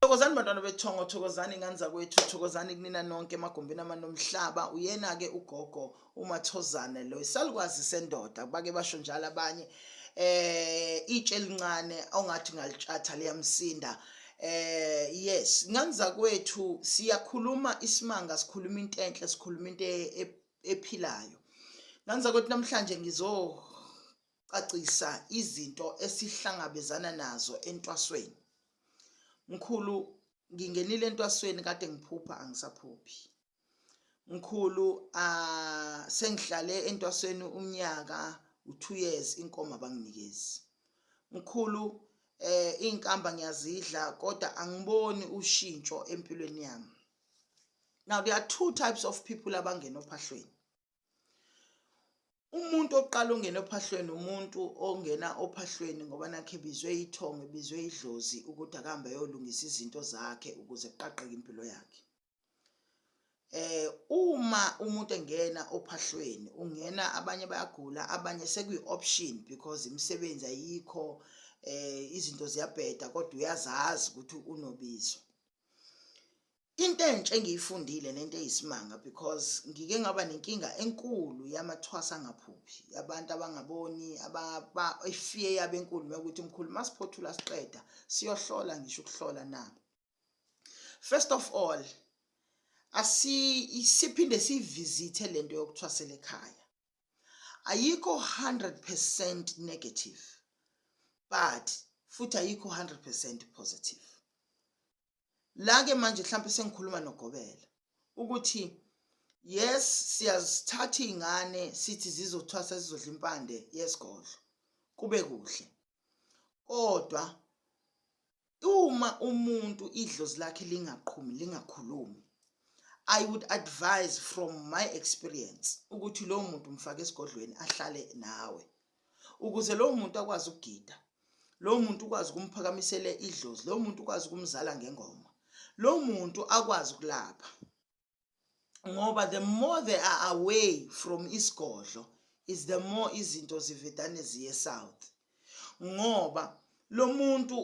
Thokozani bantwana bethongo, thokozani ingane zakwethu, thokozani kunina nonke emagumbini amanomhlaba. Uyena-ke ugogo uMathozane lo isalukwazi sendoda, bake basho njalo abanye eh itshe elincane ongathi ngalitshatha liyamsinda eh yes ingane zakwethu siyakhuluma isimanga sikhuluma into enhle sikhuluma into e-, ephilayo ingane zakwethu namhlanje ngizo cacisa izinto esihlangabezana nazo entwasweni mkhulu ngingenile entwasweni kade ngiphupha angisaphuphi mkhulu uh, sengihlale entwasweni umnyaka u-two years inkomo abanginikezi mkhulu eh inkamba ngiyazidla kodwa angiboni ushintsho empilweni yami now there are two types of people abangena ophahlweni umuntu oqala ongena ophahlweni umuntu ongena ophahlweni ngoba nakhe ebizwe ithongo ebizwe idlozi ukuthi akahambe ayolungisa izinto zakhe ukuze kuqaqeke impilo yakhe eh uma umuntu engena ophahlweni ungena abanye bayagula abanye sekuyi option because imisebenzi ayikho eh izinto ziyabheda kodwa uyazazi ukuthi unobizo Into entsha engiyifundile nento eyisimanga because ngike ngaba nenkinga enkulu yamathwasa angaphuphi abantu abangaboni ababa ifear yabo enkulu ukuthi mkhulu masiphothula siqeda siyohlola ngisho ukuhlola na First of all asi siphinde sivisithe lento yokuthwasela ekhaya ayikho 100% negative but futhi ayikho 100% positive la ke manje mhlawumbe sengikhuluma nogobela ukuthi yes siyazithatha izingane sithi zizothwasa sizodla impande yesigodlo kube kuhle kodwa uma umuntu idlozi lakhe lingaqhumi lingakhulumi i would advise from my experience ukuthi lowo muntu mfake esigodlweni ahlale nawe ukuze lowo muntu akwazi ukugida lowo muntu ukwazi ukumphakamisela idlozi lowo muntu ukwazi ukumzala ngengoma lowo muntu akwazi ukulapha ngoba the more they are away from isigodlo is the more izinto zivedane ziye south ngoba lo muntu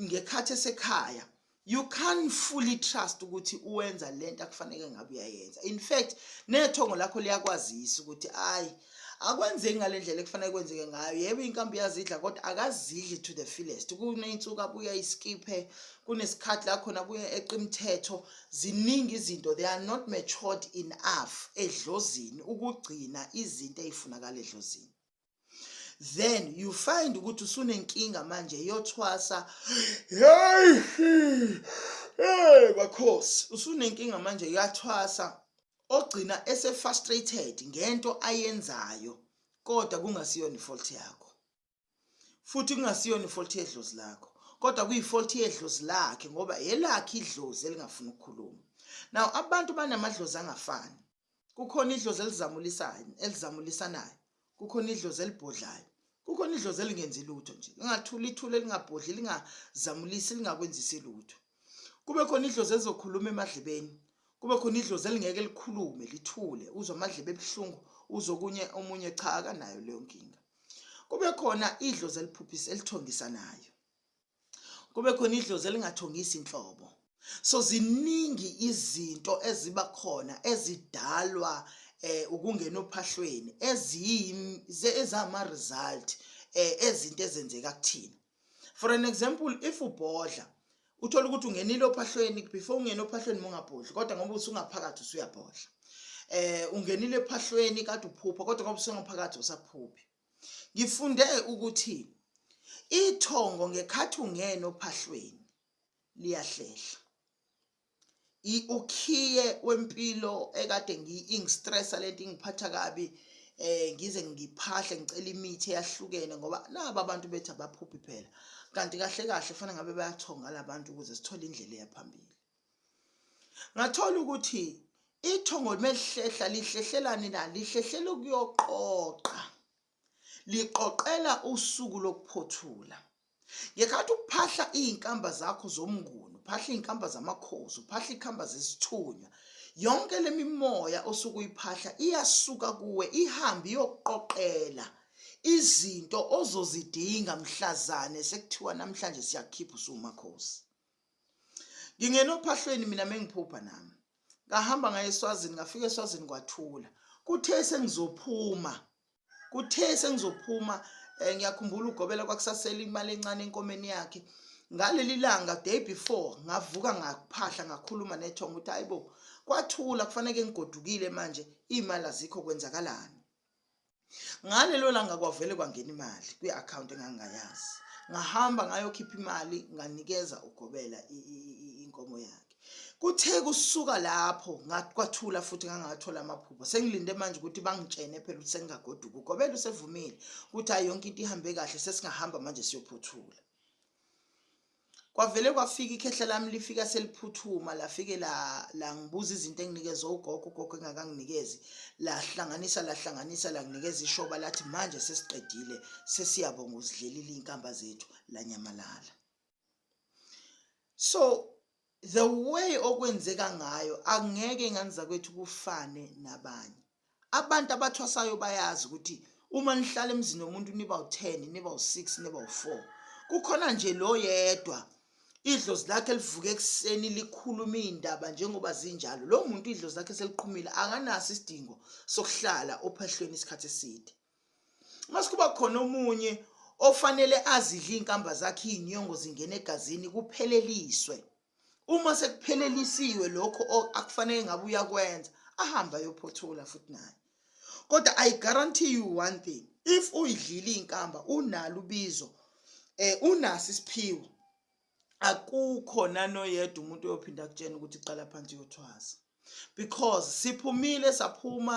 ngekhathi esekhaya you can't fully trust ukuthi uwenza lento akufanele ngabe uyayenza in fact nethongo lakho liyakwazisa ukuthi ayi akwenzeki ngalendlela ekufanele kwenzeke ngayo yebo inkambi iyazidla kodwa akazidli to the fullest kuneyinsuku abuya iskiphe kunesikhathi la khona kuya eqimthetho ziningi izinto they are not matured enough edlozini ukugcina izinto ezifunakala edlozini then you find ukuthi usunenkinga manje yothwasa hey bakhosi usunenkinga manje yathwasa ogcina ese frustrated ngento ayenzayo kodwa kungasiyona ifault yakho futhi kungasiyona ifault yedlozi lakho kodwa kuyifault yedlozi lakhe ngoba yelakhe idlozi elingafuni ukukhuluma now abantu banamadlozi angafani kukhona idlozi elizamulisayo elizamulisanayo kukhona idlozi elibhodlayo kukhona idlozi elingenzi lutho nje lingathula ithule lingabhodli lingazamulisi lingakwenzisi lutho kube khona idlozi elizokhuluma emadlebeni kube khona idlozi elingeke likhulume lithule uzwa amadlebe ebuhlungu uzokunye omunye cha akanayo leyo nkinga kube khona idlozi eliphuphisa elithongisanayo kube khona idlozi elingathongisi inhlobo so ziningi izinto eziba khona ezidalwa eh ukungena ophahlweni eziyizama result eh ezinto ezenzeka kuthina for an example if ubhodla uthola ukuthi ungenile ophahlweni before ungena ophahlweni mungabhodli kodwa ngoba usungaphakathi usuyabhodla eh ungenile ephahlweni kade uphupha kodwa ngoba usungaphakathi usaphuphi Ngifunde ukuthi ithongo ngekhathi ungena ophahlweni liyahlehla. Ukhiye wempilo ekade ngiyi-stressa lento ingiphatha kabi eh ngize ngiphahle ngicela imithi eyahlukene ngoba nabo abantu bethi abaphuphi phela kanti kahle kahle kufanele ngabe bayathonga labantu ukuze sithole indlela eyaphambili ngathola ukuthi ithongo melihlehla lihlehlelani na lihlehlela ukuyoqoqa liqoqela usuku lokuphothula ngekhathi uphahla izinkamba zakho zomnguni uphahla izinkamba zamakhosi uphahla ikhamba zesithunywa yonke lemimoya osuke uyiphahla iyasuka kuwe ihambe iyoqoqela izinto ozozidinga mhlazane sekuthiwa namhlanje siyakhipha usumakhosi ngingena ophahlweni mina mengiphupha nami ngahamba ngaye eswazini ngafika eswazini kwathula kuthe sengizophuma kuthe sengizophuma um ngiyakhumbula ugobela kwakusasela imali encane enkomeni yakhe ngaleli langa day before ngavuka ngaphahla ngakhuluma nethongo ukuthi hayi bo kwathula kufaneke ngigodukile manje iy'mali azikho kwenzakalani ngalelo langa kwavele kwangena imali kwi-akhawunti engangingayazi ngahamba ngayokhipha imali nganikeza ugobela inkomo yakhe kuthe kusuka lapho ngakwathula futhi ngangathola amaphupho sengilinde manje ukuthi bangitshene phela ukuthi sengingagoduka ugobela usevumile ukuthi hayi yonke into ihambe kahle sesingahamba manje siyophuthula Kwavele kwafika ikhehla lami lifika seliphuthuma lafike la langibuza izinto enginikeze ugogo ugogo engakanginikezi lahlanganisa lahlanganisa langinikeza ishoba lathi manje sesiqedile sesiyabonga uzidlelile inkamba zethu lanyamalala so the way okwenzeka ngayo angeke ingane zakwethu kufane nabanye abantu abathwasayo bayazi ukuthi uma nihlala emzini womuntu niba u-10 niba u-6 niba u-4 kukhona nje lo yedwa idlozi lakhe livuke ekuseni likhuluma iy'ndaba njengoba zinjalo lo muntu idlozi lakhe seliqhumile akanaso isidingo sokuhlala ophahlweni isikhathi eside mase kuba khona omunye ofanele azidle iy'nkamba zakhe iy'nyongo zingena egazini kupheleliswe uma sekuphelelisiwe lokho akufanele ngabe uyakwenza ahambe ayophothula futhi naye kodwa i guarantee you one thing if uyidlile iy'nkamba unalo ubizo um unaso isiphiwo akukho nanoyedwa umuntu oyophinda akutshena ukuthi qala phansi uyothwasa because siphumile saphuma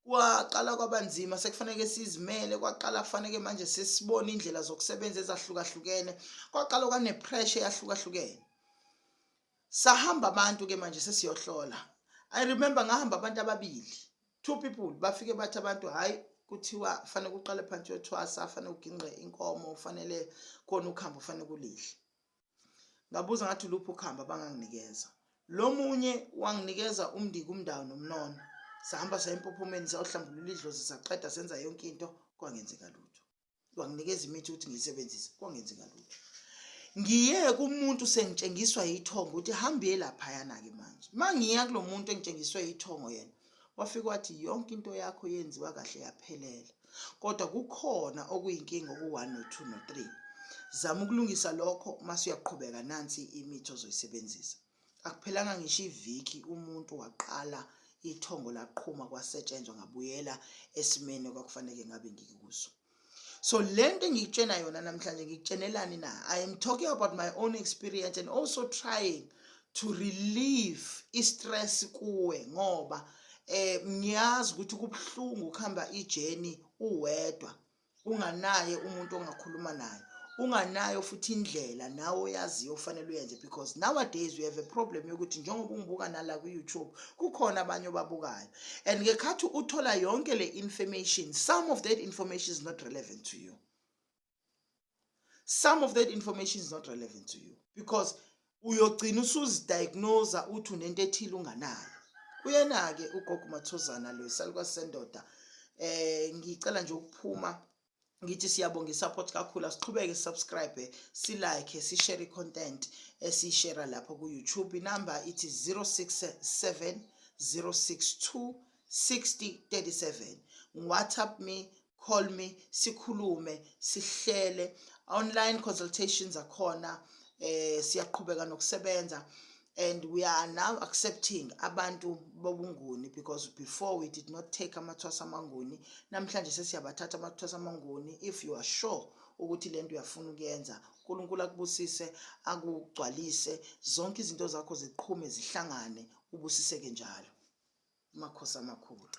kwaqala kwabanzima sekufanele sizimele kwaqala kufaneke manje sesibone indlela zokusebenza ezahlukahlukene kwaqala kwanepressure eyahlukahlukene sahamba abantu ke manje sesiyohlola i remember ngahamba abantu ababili two people bafike bathi abantu hhayi kuthiwa fanele kuqale phansi yothwasa fanele ugingqe inkomo fanele kona ukuhamba fanele kulihle ngabuza ngathi luphi ukuhamba banganginikeza lo munye wanginikeza umndiki umndawo nomnono sahamba saya empophomeni sayohlambulula idlozi saqeda senza yonke into kwangenzeka lutho wanginikeza imithi ukuthi ngiyisebenzise kwangenzi ngalutho ngiye kumuntu sengitshengiswa yithongo ukuthi hambiye laphayana-ke manje uma ngiya kulo muntu engitshengiswe yithongo yena wafike wathi yonke into yakho yenziwa kahle yaphelela kodwa kukhona okuyinkinga oku-one no-two no-three zama ukulungisa lokho uma suyaqhubeka nansi imithi ozoyisebenzisa Akuphelanga ngisho iviki umuntu waqala ithongo laqhuma kwasetshenzwa ngabuyela esimeni okwakufanele ngabe ngikuso so lento engikutshena yona namhlanje ngikutshenelani na i am talking about my own experience and also trying to relieve i-stress kuwe ngoba eh ngiyazi ukuthi kubuhlungu ukuhamba ijeni uwedwa unganaye umuntu ongakhuluma naye unganayo futhi indlela nawe oyaziyo ofanele uyenze because nowadays we have a problem yokuthi njengoba ungibuka nala ku-youtube kukhona abanye obabukayo and ngekhathi uthola yonke le information some of that information is not relevant to you some of that information is not relevant to you because uyogcina usuzidiagnosa uthi unento ethile unganayo uyena-ke ugogo mathozana lo isaluka sendoda eh ngicela nje ukuphuma ngithi siyabonga isupport kakhulu asiqhubeke subscribe silike sishare content esiyishare lapha ku YouTube inamba ithi 067 062 6037 WhatsApp me call me sikhulume sihlele online consultations akhona eh siyaqhubeka nokusebenza and we are now accepting abantu bobunguni because before we did not take amathwasa amanguni namhlanje sesiyabathatha amathwasa amanguni if you are sure ukuthi lento uyafuna ukuyenza uNkulunkulu akubusise akugcwalise zonke izinto zakho ziqhume zihlangane ubusiseke njalo amakhosi amakhulu